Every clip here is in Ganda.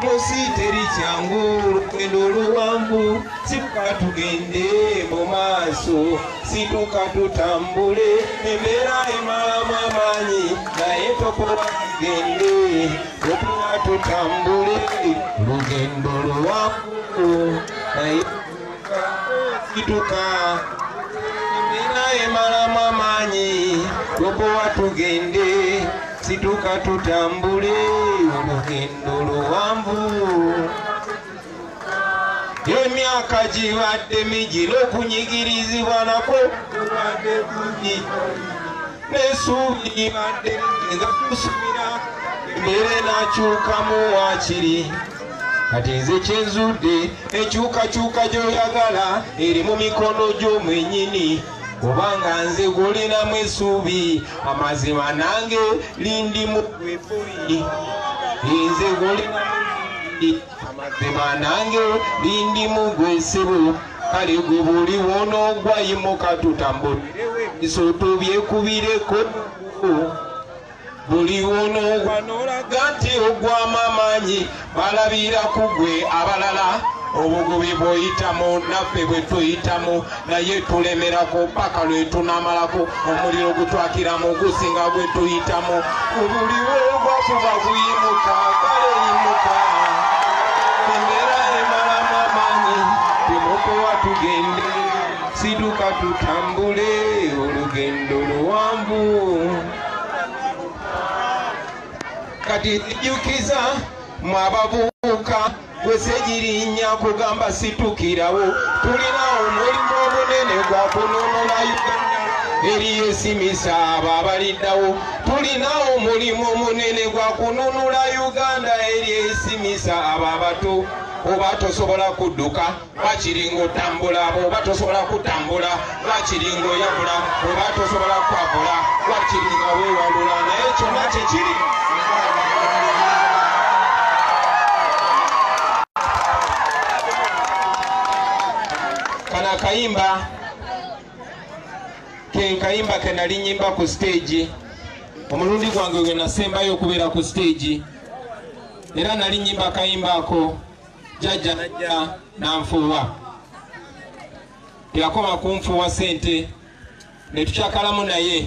Musi teri kyangu olugendo oluwanvu sikuka tugende mu maaso situka tutambule embeera emalamu amaanyi naye tokola tugende otuwa tutambule olugendo luwanvu naye situka embeera emalamu amaanyi lokowa tugende situka tutambule olugendo luwanvu emyaka gibadde migi n'okunyigirizibwa nako kubadde kungi n'esuubi libadde nga tusubira embeera enakyukamu wakiri kati nze kyenzudde enkyukakyuka gyoyagala eri mu mikono gyo mwenyini kubanga nze gwolinamu esuubi amazima nange lindi mugweboyi nze gwolinamu amazima nange lindi mugwesebo kale gwe buli wonoogwayimuka tutambulire ebiso tubyekubireko buli wonoowa n'olaga nti ogwamu amaanyi balabira ku gwe abalala obugubi bw'oyitamu naffe bwe tuyitamu naye tulemerako paka lwe tunamalako omuliro gutwakiramu gusinga gwe tuyitamu obuli wogwa kuba guyimuka kale yimuka embeera emalamu amaanyi bimukuwa tugende siduka tutambule olugendo luwanvu kati nzijukiza mwe abavubuka gwesegirinya kugamba situkirawo tulina omulimu omunene gwa kununula uganda eriyo esimisa abo abaliddawo tulina omulimu omunene gwa kununula uganda eri esimisa abo abato oba tosobola kudduka lwakiringa otambula bwoba tosobola kutambula lwakiringa oyabula bwoba tosobola kwabula lwakiringa wewalula naye kyonna kyekiri kana akayimba kenkayimba kenali nyimba ku siteegi omulundi gwange gwe nasembayo okubeera ku siteegi era nali nyimba akayimba ako jajja najja nanfuuwa teyakoma kunfuuwa sente netukyakalamu naye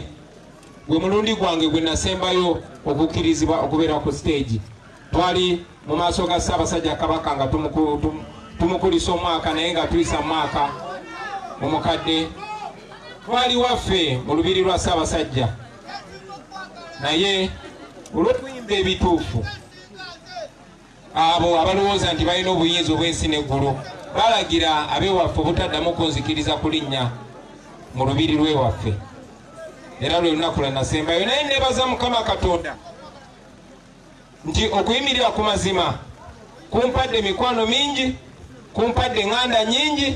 gwe mulundi gwange gwe nasembayo okukkirizibwa okubeera ku siteegi twali mu maaso ga ssaabasajja kabaka nga tumukulisa omwaka naye nga tuyisa mwaka mu mukadde twali waffe mu lubiri lwa ssaabasajja naye olw'okuyimba ebituufu abo abalowooza nti balina obuyinza obw'ensi n'eggulu balagira abewaffe obutaddamu kunzikiriza kulinnya mu lubiri lwewaffe era lwe lunaku lwanasembayo naye nebaza mukama katonda nti okuyimirira ku mazima kumpadde emikwano mingi kumpadde eŋŋanda nyingi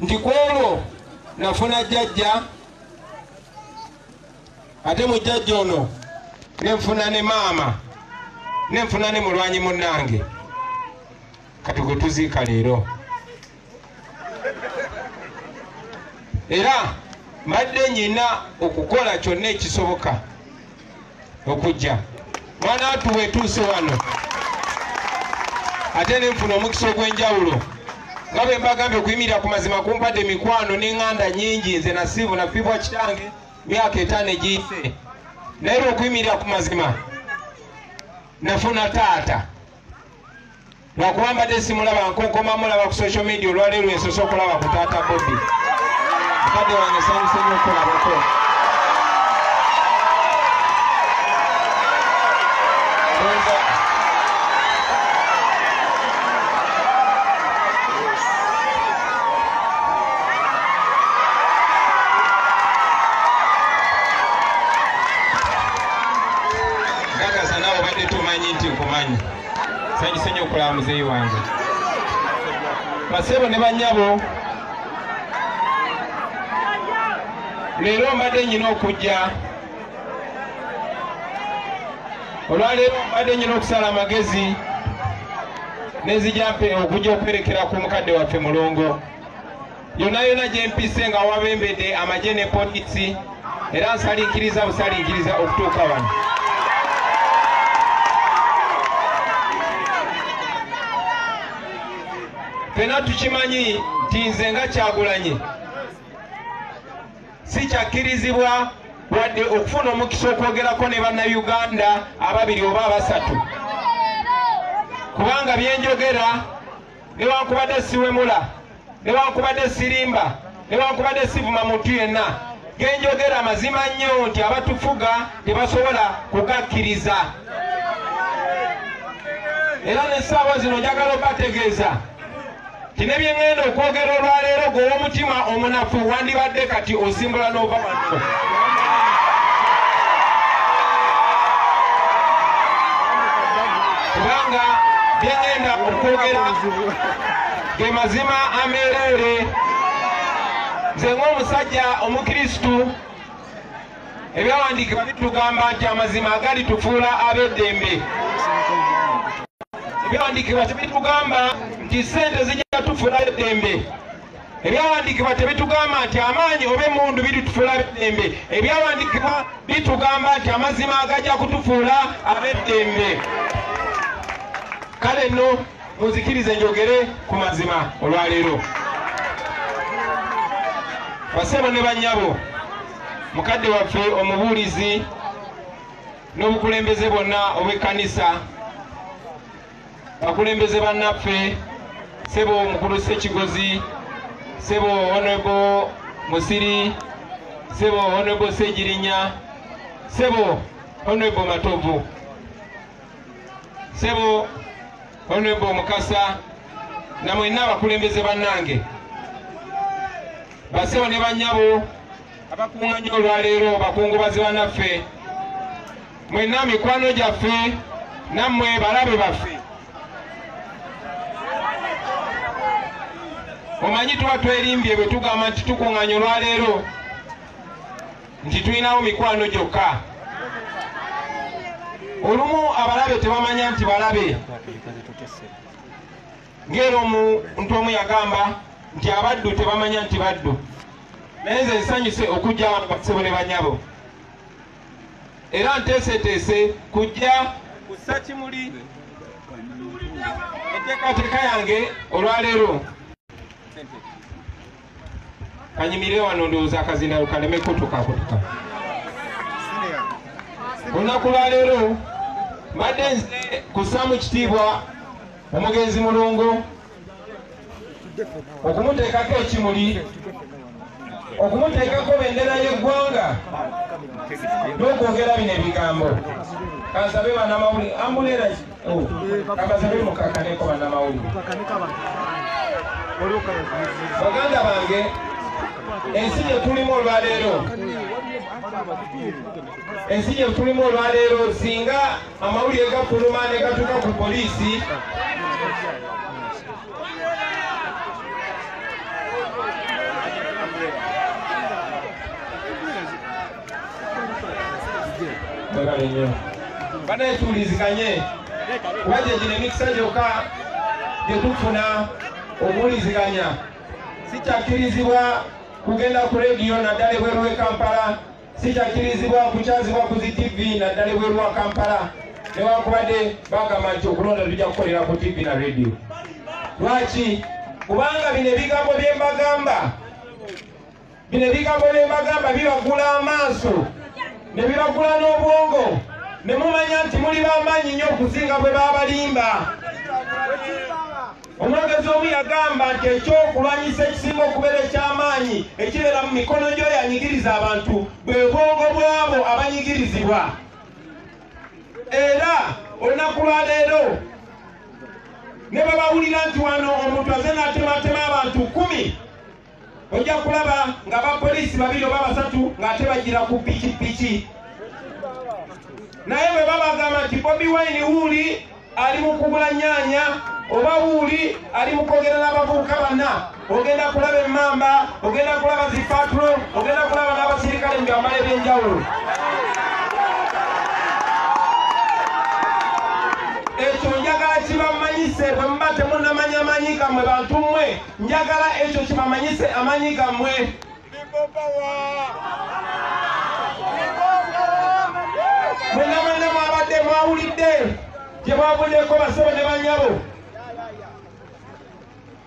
nti ku olwo nafuna jjajja ate mu jjajja ono ne nfuna ne maama ne nfuna ne mulwanyi munnange kati gwe tuziika leero era mbadde nyina okukola kyonna ekisoboka okujja mwana watu wetuuse wano ate ne nfuna omukisa ogw'enjawulo nga bwe mbagambye okuyimirira ku mazima kumpadde mikwano n'eŋŋanda nyingi nze nasiivu nafibwa kitange myaka etaano egiyise naye lwokuyimirira ku mazima nafuna taata lwakuba mbadde simulaba nkonkoma mulaba ku social media olwaleero ensose okulaba ku taata bobi mukadde wange sanyuse nyo okulabako nkakasa nawe obadde tumanyi nti nkumanyi sanyise nyo okulaba muzeeyi wange basebo ne banyabo leero mbadde nyina okujja olwaleero mbadde nyina okusala amagezi nenzijampe okujja okwerekera ku mukadde waffe mulongo yonna yonna gyempise nga wabembedde amagye ne polisi era nsalinkiriza busalinkiriza okutuuka wano fena tukimanyi nti nze nga kyagulanyi sikyakkirizibwa wadde okufuna omukisa okwogerako ne bannayuganda ababiri oba abasatu kubanga byenjogera newankubadde siwemula newankubadde sirimba newankubadde sivuma muntu yenna genjogera mazima nnyo nti abatufuga tebasobola kugakkiriza era nessaawa zino njagala obategeeza tine byengenda okwogera olwaleero gwowomutima omunafu wandibadde kati osimbula n'ova wano kubanga byengenda okwogera ge mazima ameereere nze ng'omusajja omukristu ebyawandiikibwa bitugamba nti amazima agali tufuula ab'eddembe ebyawandiikibwa tebitugamba nti ssente zijja tufuula ab'eddembe ebyawandiikibwa tebitugamba nti amaanyi oba emundu biritufuula ab'eddembe ebyawandiikibwa bitugamba nti amazima agajja kutufuula ab'eddembe kale nno muzikirize njogere ku mazima olwaleero basebo ne bannyabo mukadde waffe omubuulizi n'obukulembeze bwonna obw'ekkanisa bakulembeze bannaffe sebo omukulu sekigozi sebo onebo musiri sebo onebo segirinya sebo onebo matovu sebo honorable mukasa na mwenna abakulembeze bannange basebo ne banyabo abakuŋŋanya olwaleero bakungubazi banaffe mwenna mikwano gyaffe nammwe balabe baffe omanyi tuba twerimbye bwe tugamba nti tukuŋŋanya olwaleero nti tulinawo mikwano gyokka olumu abalabe tebamanya nti balabe ngaera omuntu omu yagamba nti abaddu tebamanya nti baddu naye nze nsanyuse okujja wano basebo ne banyabo era nteeseteese kujja kussa kimuli enteekateeka yange olwaleero kanyimire wano ndowooza akazindaalo kaleme kutukakutuka olunaku lwaleero mbadde nze kussaamu kitiibwa omugenzi mulongo okumuteekako ekimuli okumuteekako bendera y'eggwanga n'okwogera bino ebigambo kansabe banamawuli ambuleraki kabazabe mukakaneko banamawulire baganda bange ensi gyetulimu olwaleero ensi gyetulimu olwaleero singa amawulire gafuluma ne gatuuka ku poliisi Mwebale nnyo. Banaye tuwuliziganye kuba gye gino emikisa gyokka gye tufuna okuwuliziganya. Sikyakkirizibwa kugenda ku rediyo naddala ebweru w'e Kampala, sikyakkirizibwa kukyazibwa ku zi TV naddala ebweru wa Kampala newankubadde bagamba nti okulonda tujja kukolera ku TV na rediyo. Lwaki? Kubanga bino ebigambo bye mbagamba bino ebigambo bye mbagamba bibagula amaaso ne bibagula n'obwongo ne mumanya nti muli b'amaanyi nnyo okusinga bwe baabalimba omwogezi omu yagamba nti ekyokulwanyisa ekisinga okubeera eky'amaanyi ekibeera mu mikono gy'oyo anyigiriza abantu bwe bwongo bw'abo abanyigirizibwa era olunaku lwa leero ne babawulira nti wano omuntu aze n'atematema abantu kumi ojja kulaba nga bapoliisi babiri oba basatu ng'ate bagira ku pikipiki naye bwe babagamba nti bobi wine wuuli ali mu kugula nyaanya oba wuuli ali mu kwogera n'abavubuka banna ogenda kulaba emmamba ogenda kulaba zipatulo ogenda kulaba n'abasirikale mu byambalo eby'enjawulo ekyo njagala kibamanyise bwe muba temunamanya manyi gamwe bantu mmwe njagala ekyo kibamanyise amanyi gammwe mwena mwena mwabadde mwawulidde gye bwavuddeko basebo ne banyabo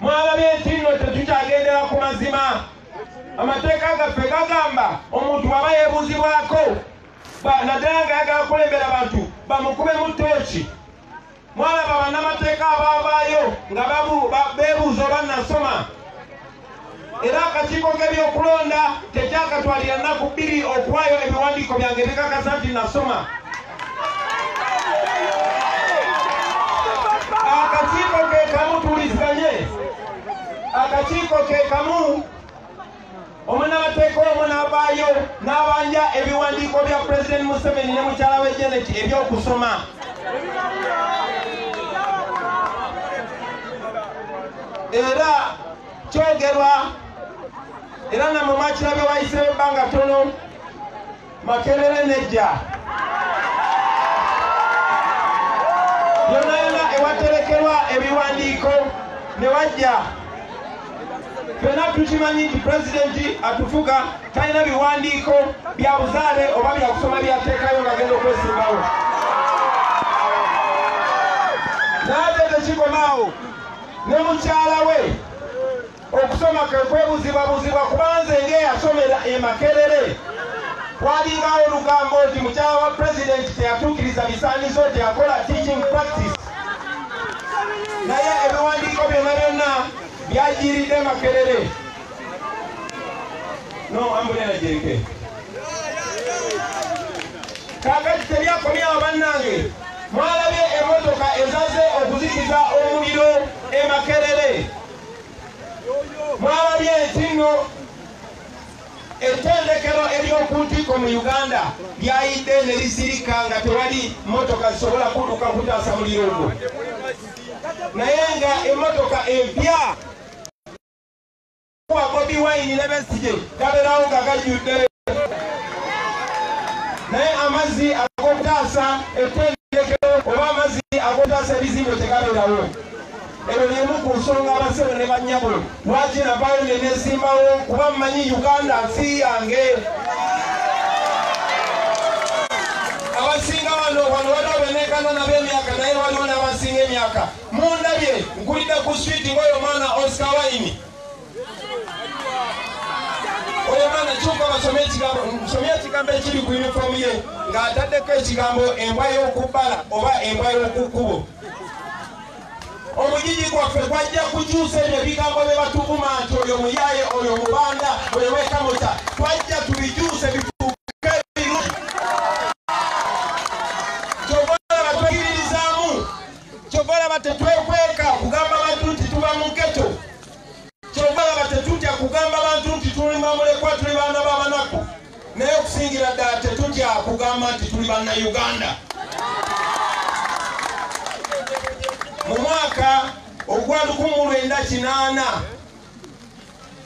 mwalabye nti nno tetukyagendera ku mazima amateeka gaffe gagamba omuntu bwaba yebuuzibwako naddala nga yagala kulembera bantu bamukubemu tooki mwalaba bannamateeka abaavaayo nga beebuuza oba nasoma era akakiiko k'ebyokulonda tekyakatwalira nnaku bbiri okuwaayo ebiwandiiko byange bikakasa nti nasoma akakiiko ke kamu tuliziganye akakiiko ke kamu omunamateeka omu n'avaayo n'abanja ebiwandiiko bya pulezidenti museveni ne mukyala we janet eby'okusoma era kyogerwa era namwe mwakirabye wayisewo ebbanga tono makerere nejja yona yona ewaterekerwa ebiwandiiko ne wajja fena tukimanyi nti pulezidenti atufuga talina biwandiiko bya buzaale oba byakusoma byateekayo nga genda okwesimbawo naate tekikomaawo ne mukyala we Okusoma kwe kwebuzibwabuzibwa kuba nze ng'eyasomera e Makerere walingawo olugambo nti mukyala wa pulezidenti teyatuukiriza bisaanizo nti akola teaching practice naye ebiwandiiko byonna byonna byajiiridde Makerere no ambulera jereke kakati tebyakomyawo bannange mwalabye emotoka ezaze okuzikiza omuliro e Makerere mwalabye nti nno ettendekero ery'oku ntikko mu uganda lyayidde ne lisirika nga tewali mmotoka zisobola kuduka kutaasa muliro ogwo naye nga emmotoka empya wa bobi wayini ne besije gabeerawo nga gajjudde naye amazzi ag'okutaasa ettendekero oba amazzi ag'okutaasa ebizimbe tegabeerawo Eno y'emu ku nsonga abassebo ne bannyabo lwaki navaayo ne neesimbawo kuba mmanyi Uganda nsi yange. Abasinga wano wano waliwo beneekana nabo emyaka naye waliwo n'abasinga emyaka. Mundabye nkulidde ku switi ng'oyo mwana Oscar Wine. Oyo mwana kyuka basome ekigambo nsomye ekigambo ekiri ku yunifoomu ye ng'ataddeko ekigambo embwa y'okubbala oba embwa y'okukkubo. omugigi gwaffe gwajja kukyusa ebyo ebigambo bye batuvuma nti oyo muyaye oyo mubanda oyo wekamuta twajja tubikyuse bifuuke biru kyovolaba tweyiririzaamu kyovolaba tetwekweka kugamba bantu nti tuba mu geto Kyova laba tetutya kugamba bantu nti tuli bamulekwa tuli baana babanaku naye okusingira ddala tetutya kugamba nti tuli banna uganda mu mwaka ogwa 1998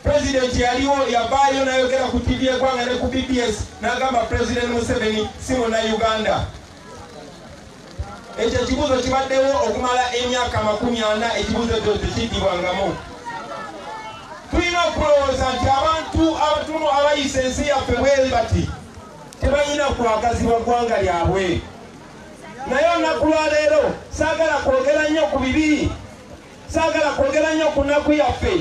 pulezidenti yaliwo yavaayo nayogera ku tivi egwanga ne ku bbs nagamba pulezidenti museveni si muna uganda ekyo ekibuuzo kibaddewo okumala emyaka makumi ana ekibuuzo ekyo tekiddibwangamu tulina okulowooza nti abantu abatunu abayisa ensi yaffe bweri bati tebalina kwagazibwa ggwanga lyabwe naye olunaku lwaleero saagala kwogera nnyo ku bibi saagala kwogera nnyo ku nnaku yaffe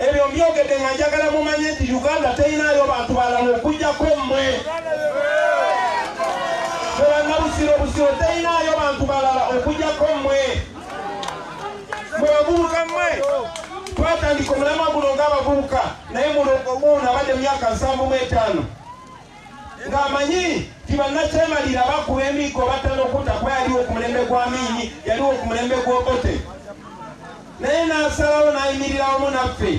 Ebyo mbyogedde nga njagala mumanye nti Uganda teyinaayo bantu balala okujjako mmwe. Bwebannabusiro busiro teyinaayo bantu balala okujjako mmwe. Mwe bavubuka mmwe twatandika omulamwa guno ng'abavubuka naye muno omuuno abadde mu myaka nsanvu mu etaano. ng'amanyi nti bannakyemalira bakuba emiggo batta n'okutta kuba yaliwo ku mulembe gwa miini yaliwo ku mulembe gw'obote naye n'asalawo n'ayimirira wamu naffe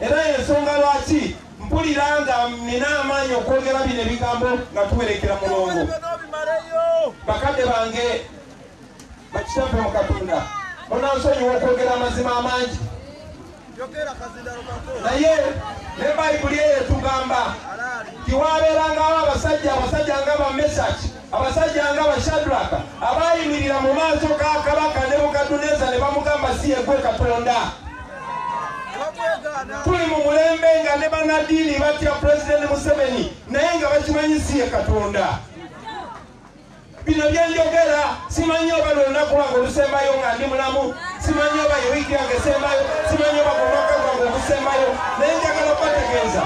era yensonga lwaki mpulira nga nina amaanyi okwogera bino ebigambo nga tuwerekera mulongo bakadde bange Bakitaffe mu Katonda, munansonyiwa okwogera amazima amangi, naye ne Bayibuli eyo etugamba nti waabeerangawo abasajja abasajja nga Bamesaki, abasajja nga Bashadraka abaayimirira mu maaso ga kabaka Nebukadduneeza ne bamugamba si yegwe Katonda. Tuli mu mulembe nga ne bannaddiini batya Pulezidenti Museveni naye nga bakimanyi si ye Katonda. bino byenjogera simanyi oba lwelunaku lwange olusembayo nga ndi mulamu simanyi oba yewiiki yange esembayo simanyi oba kumwaka gwange ogusembayo naye njagala okubategeeza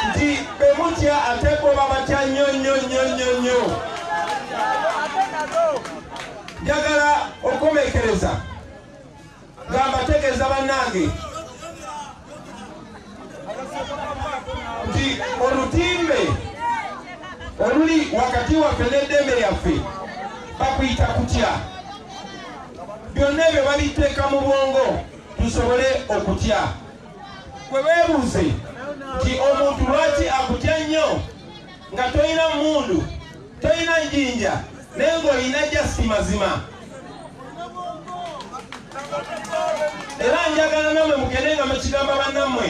nti bemutya ate bo babatya nnyo nnyo nnyo nnyo nnyo njagala okukomekereza nga mbategeeza bannange nti olutimbe oluli wakati waffe n'eddembe lyaffe bakuyita kutya byonna ebyo babiteeka mu bwongo tusobole okutya kwe beebuuze nti omuntu lwaki akutya nnyo nga tolina mmundu tolina njinja naye ng'olina jasi mazima era njagala namwe mugende nga mukigamba bannammwe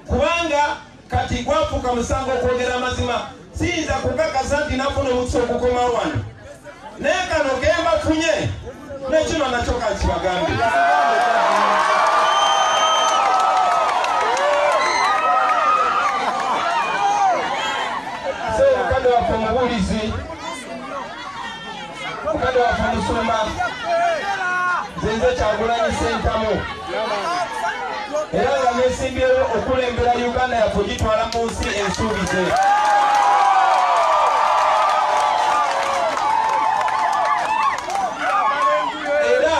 kubanga kati gwafuuka musango okwogera amazima siyinza kukakasa nti nafuna omukisa okukomawo wano naye kano kembafunye nekino nakyo kakibagambe mukadde waffe omubuulizi mukadde waffe omusumba nzenze kyagulanyi sentamu era nga yesimbyewo okulembera uganda yaffe ogitwala mu nsi ensuubize era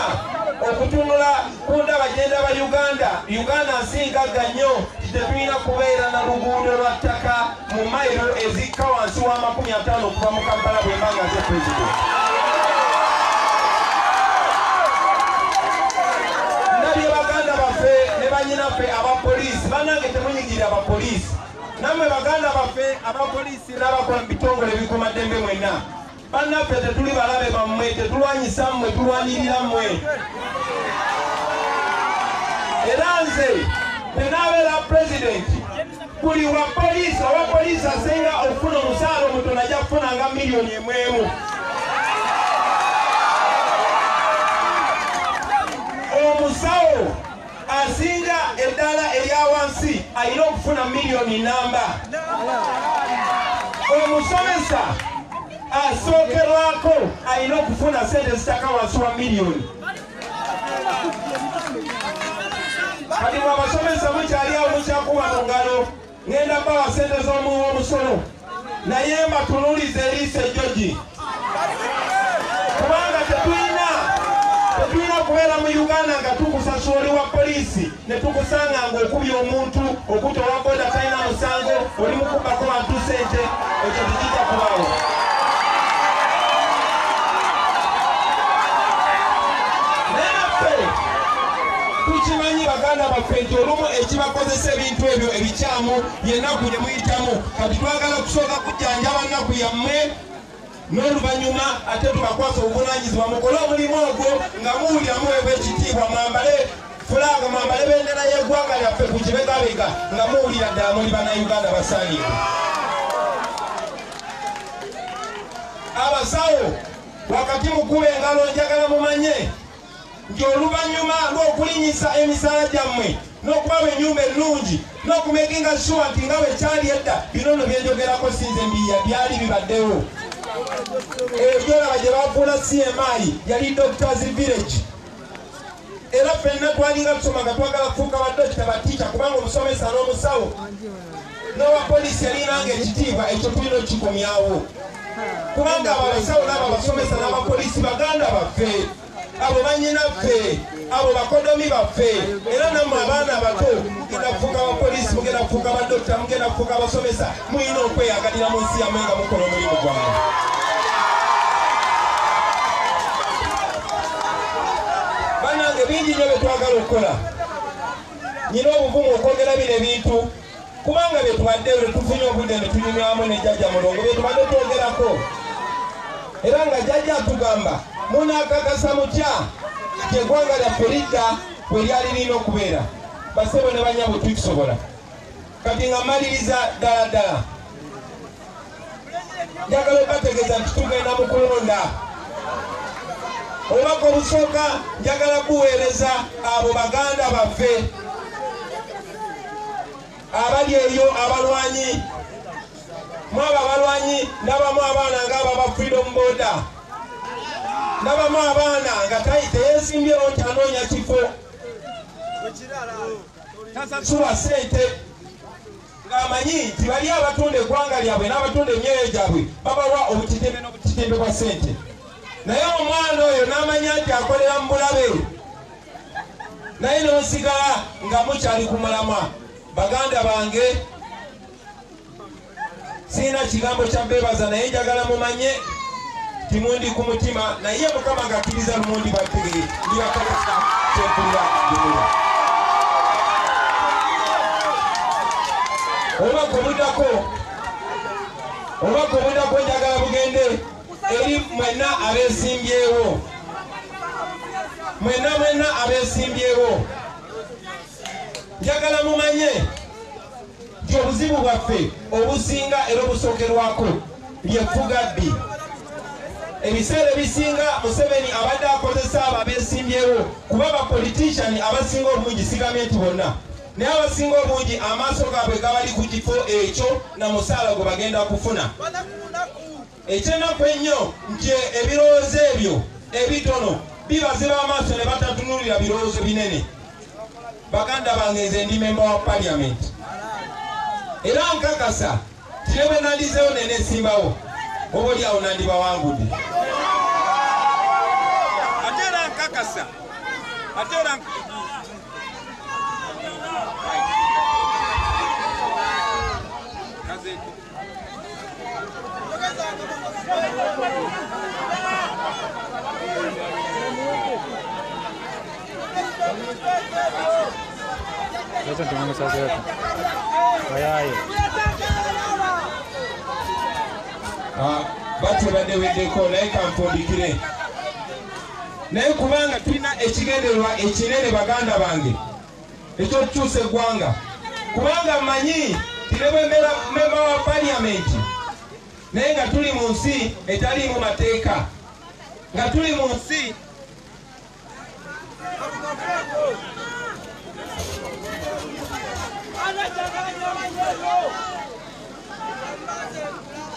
okutunula ku ndaba gyendaba uganda uganda nsi ngagga nnyo tetulina kubeera na luguudo lwa ttaka mu mayiro ezikka wansi wa makumi ataano okuva mu kampala bwemba nga nze pulezidenti ndabye baganda baffe ne banyinaffe abapoliisi banange temunyigirira abapoliisi nammwe baganda baffe abapoliisi n'abakola mu bitongole ebikumaddembe mwenna Bannaffe tetuli balabe bammwe, tetulwanyisa mmwe, tulwanirira mmwe. Era nze bwe naabeera pulezidenti, buli wa poliisi owa poliisi asinga okufuna omusaala omutono ajja kufuna nga miliyoni emu emu. Omusawo asinga eddaala erya wansi alina okufuna miliyoni namba omusomesa asookerwako alina okufuna sente zitaka wansi wa miliyoni kati mwabasomesa mukyali awo mukyakuba mu ngalo Ngenda bawa sente z'omuwi w'omusolo naye mbatunulize eriiso ejjogi kubanga tetulina tetulina okubeera mu uganda nga tukusasula oli wa poliisi ne tukusanga nga okubya omuntu okuta owa boda talina musango oli mukubako bantu sente ekyo tekijja kubawo naye naffe tukimanyi baganda baffe nti olumu ekibakozesa ebintu ebyo ebikyamu yenaku gyemuyitamu kati twagala kusooka kujjanjaba nnaku yammwe n'oluvannyuma ate tubakwasa obuvunanyizibwa mukole omulimu ogwo nga muwulira muweebwa ekitiibwa mwambale fulaaga mwambale bendera y'eggwanga lyaffe ku kibegabega nga muwulira ddala muli bannayuganda basaanire abasawo wakati mukulu engalo njagala mumanye nti oluvannyuma lw'okulinnyisa emisaala gyammwe n'okubawa ennyumba ennungi n'okumekinga shuwa nti nga bwe kyali edda bino no byenjogerako sinze mbiya byali bibaddewo ebyolaba gye bafuula cmi yali doctors village era fenna twalinga tusoma nga twagala kufuuka badokita batiica kubanga omusomesa n'omusawo n'owa poliisi yalinanga ekitiibwa ekyo tulina okikomyawo kubanga abo abasawo n'abo abasomesa n'abapoliisi baganda baffe abo banyinaffe abo bakodomi baffe era nammwe abaana abato mugenda kufuuka abapoliisi mugenda kufuuka abadokita mugenda kufuuka abasomesa mulina okweyagalira mu nsi yamwe nga mukola omulimu gwange banange bingi nyo byetwagala okukola nyina obuvumu okwogera bino ebintu kubanga byetubadde lwetufunye obudde netunyumyamu ne jajja mulongo byetubadde twogerako era nga jajja atugamba munakakasa mutya kyegwanga lyaffe lidda bwe lyali lirina okubeera basebo ne banyabo tukisobola kati nga maliriza ddala ddala njagala obategeeza nti tugenda mu kulonda obubaka obusooka njagala kuweereza abo baganda baffe abali eyo abalwanyi mwabo abalwanyi nabamu abaana nga ababa freedom boda nabamu abaana nga teyesimbyewo nti anoonya kifo suwa sente ng'amanyi nti bali abatunda eggwanga lyabwe n'abatunda emyoyo gyabwe babawa obutitimbe n'obutitimbe bwa ssente naye omwana oyo n'amanya nti akolera mu bulabe naye n'osigala nga mukyali ku mulamwa baganda bange Sirina kigambo kya beebaza naye njagala mumanye timundi ku mutima naye mukama ngakiriza lumundi bategere ndibakakasa kyekulira gumula oba gomudako oba gomudako njagala bugende eri mwenna abesimbyewo mwenna mwenna abesimbyewo njagala mumanye nti obuzibu bwaffe obusinga era obusookerwako ly'effugabbi. Ebiseera ebisinga Museveni abadde akozesa abo abeesimbyewo kuba bapolitishani abasinga obungi sigambye nti bonna naye abasinga obungi amaaso gaabwe gabali ku kifo ekyo na musaala gwe bagenda kufuna. Ekyenaku ennyo nti ebirowoozo ebyo ebitono bibaziba amaaso ne batatunulira birowoozo binene. Baganda bange nze ndi memba wa parliament era nkakasa nti ne bwe nandizeewo nenesimbawo oba oli awo nandibawangudde. Ate era nkakasa ate era Thank you. Sasa tunaona sasa hapa. Bayaye. Ah, bati bade wedeko naye kampundikire naye kubanga tulina ekigendererwa ekinene baganda bange eky'okukyusa eggwanga kubanga mmanyi nti ne bwe mbeera mmemba wa paliyamenti naye nga tuli mu nsi etaliimu mateeka nga tuli mu nsi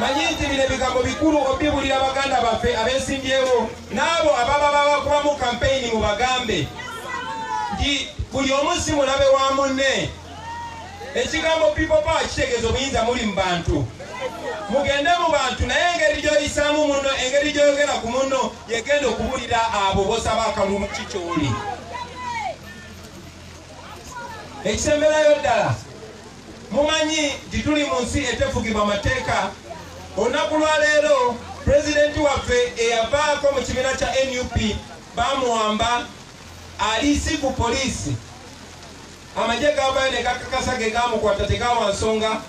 Manyi nti bino ebigambo bikulu okubibulira baganda baffe abesimbyewo n'abo ababa babakubamu kampeyini mu bagambe nti buli omu si mulabe wa munne ekigambo people power kitegeeza obuyinza muli mu bantu mugende mu bantu naye engeri gyoyisaamu munno engeri gyoyogera ku munno yegenda okubulira abo bosaba akalulu ki kyoli ekisemberayo ddala Mumanyi nti tuli mu nsi etefugibwa mateeka. Olunaku lwa leero president waffe eyavaako mu kibiina kya nup bamuwamba ali si ku poliisi. Amagye gaavayo ne gakakasa ge gaamukwata tegaawa nsonga.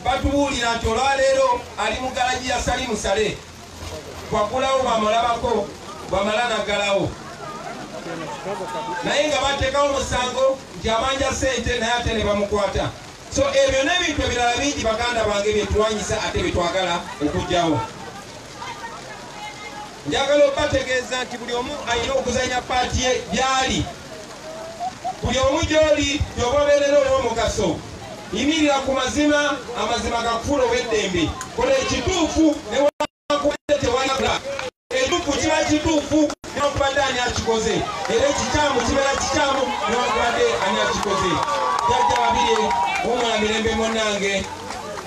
Batubuulira nti olwa leero ali mu galagi ya Salim Saleh. bwagulawo bwamulabako bwamala nagalawo naye nga batekawo omusango nti abanja sente naye ate nebamukwata so ebyo nebintu ebirala bingi baganda bange byetulwanyisa ate byetwagala okugyawo njagala obategeeza nti buli omu alina okuzanya paati ye byali Buli omu gy'oli, gy'oba obeerera ow'omugaso. Yimirira ku mazima, amazima gakufuule ow'eddembe. Kola ekituufu newankubadde tewali akulaba. Ekituufu kiba kituufu newankubadde ani akikoze, era ekikyamu kibeera kikyamu newankubadde ani akikoze. Jjajja Babirye, wummula mirembe munnange.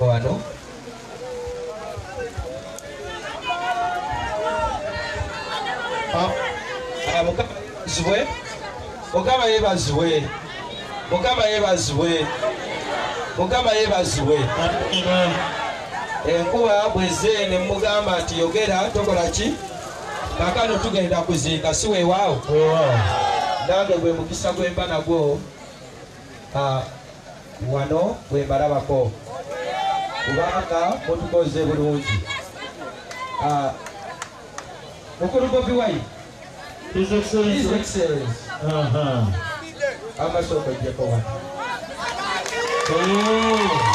wano mukabazibwe mukama yebazibwe mukama yebazibwe mukama yebazibwe enkuba bweze nemugamba nti yogera tokola ki kakano tugenda kuziika si wewaawo nange gwe mukisa gwemba nagwo ah, Wano bwe mbalabako kubanga mutukoze bulungi. Ah, Mukulu Bobi Wine. His Excellency. His Excellency. Aha. Amasoko jjeko wano. Oh.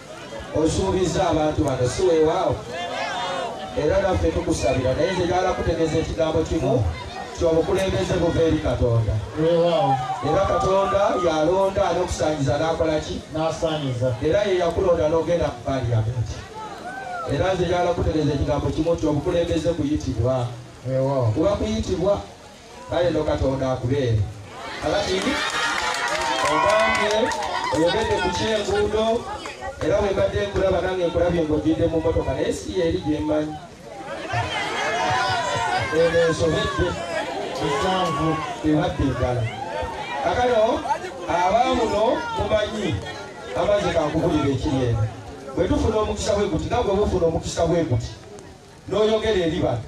Osuubizza abantu bano, si weewaawo? Era naffe tukusabira, naye nze njagala kutegeeza ekigambo kimu nti obukulembeze buva eri Katonda. Weewaawo. Era Katonda y'alonda ani okusaanyiza n'akola ki? N'asaanyiza. Era ye yakulonda n'ogenda mu Paaliyamenti. Era nze njagala kutegeeza ekigambo kimu nti obukulembeze kuyitibwa. Weewaawo. Kuba kuyitibwa. kale no katonda akubeere kakati ogambye oyogedde ku kyenguudo era wembadde nkulaba nange nkulabye ngaogidde mu motoka naye si yeeri gyemmanyi eno ensobedde esanvu ebadde eddala kakano abaamuno mumanyi amazzi kankubulira ekiri eno bwe tufuna omukisa bwe guti nagwe bufuna omukisa bwe guti n'oyogera eri bano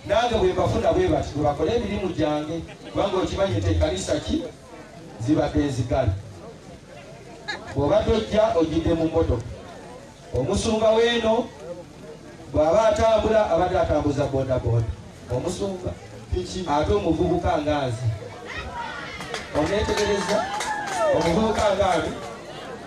nange bwe mbafuna bwe bati bwe bakole emirimu gyange kubanga okimanyi nti ekanisa ki zibadde ezigala bw'oba tojja ojjidde mu mmotoka omusumba weeno bw'aba atambula abadde atambuza bodaboda omusumba ate omuvubuka ngaazi oneetegereza omuvubuka ngaazi